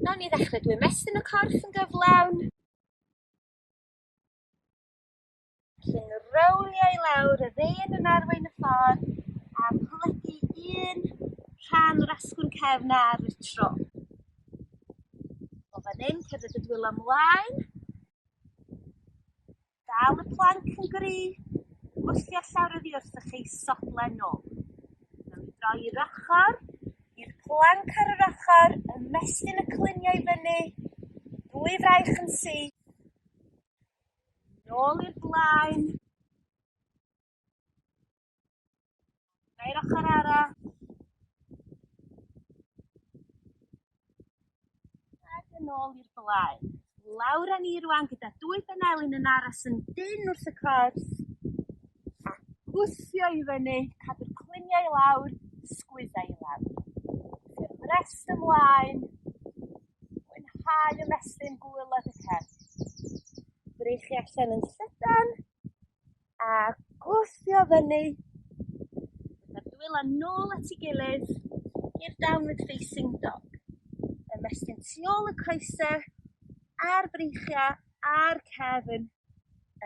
Nawn ni ddechre drwy mestyn y corff yn gyflawn. Felly'n rowlio i lawr yr un yn arwain y ffordd a plygu un rhan o'r asgwrn cefn ar y tro. O fan hyn, cerdded y dwylo ymlaen, Dal y planc yn gry wrth i orllewr oddi wrthych ei sodlen nôl. Nawn ni droi i'r ochr, i'r planc ar yr ochr, ymestyn y cluniau i fyny, dwy fraich yn syth, nôl i'r blaen, Neu'r ochr arall. Ac yn ôl i'r blaen. Lawr â ni rwan gyda dwy benelin yn aros yn dyn wrth y corff. A gwthio i fyny, cadw'r cluniau i lawr, sgwyddau i lawr. Yr brest ymlaen. Mwynhau y mesyn gwylod y cerdd. Brych chi allan yn llydan. A gwthio fyny. Mae'r dwylo nôl at ei gilydd i'r downward facing dog. Ymestyn tu ôl y coese a'r breichiau a'r cefn.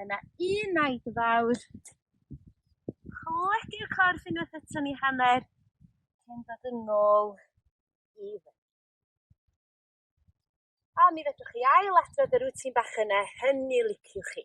Yna un naid fawr. Cledi'r corff unwaith eto ni hanner cyn dod yn ôl i fy. A mi fedrwch chi ail adrodd y rwtin bach yne hynny liciwch chi.